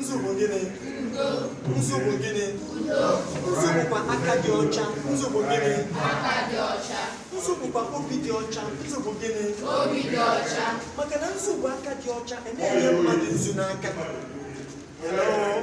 nzu bụ gịnị nzu bụ gịnị nzu bụkwa aka dị ọcha nzu bụ gịnị nzu bụkwa obi dị ọcha nzu bụ gịnị maka na nzu bụ aka dị ọcha e nye mmadụ nzu n'aka Hello?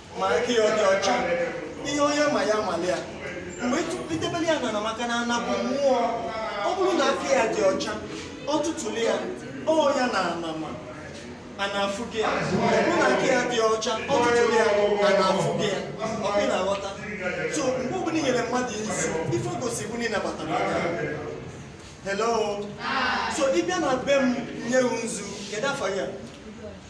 ma aka ya ọ dị ọcha ihe onye ma ya mali ya mgbe i debere ya n'ana maka na ana bụ mmụọ ọ bụrụ na aka ya dị ọcha ọ tụtụrụ ya ọ ya na anama a na-afụ gị ya ọ bụrụ na aka ya dị ọcha ọ tụtụrụ ya a na-afụ gị ya ọ bụ na-aghọta so mgbe ọbụla i nyere mmadụ isi ife o gosi bụ na ị nabatara ya hello so ị bịa na be m nye gị nzu kedu afa ya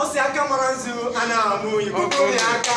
ọ sị aka mara nzu a na-amụ igbo aka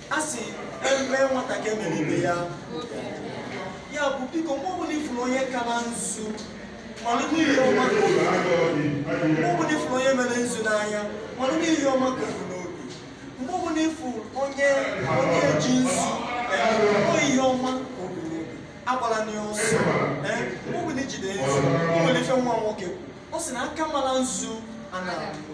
a sị eme nwata ka emere ibe ya ya bụ biko mgbe ọbụla ị fụrụ onye kara nzu mara na ihe ọma ka o bu mgbe ọbụla ị fụrụ onye mere nzu n'anya mara na ihe ọma ka o bu n'obi mgbe ọbụla ị fụ onye onye ji nzu ọ ihe ọma ka o bu n'obi agbala nzu ọsọ ee mgbe ọbụla i jide nzu o nwere ife nwa nwoke ọ sị na aka mara nzu a na-abụ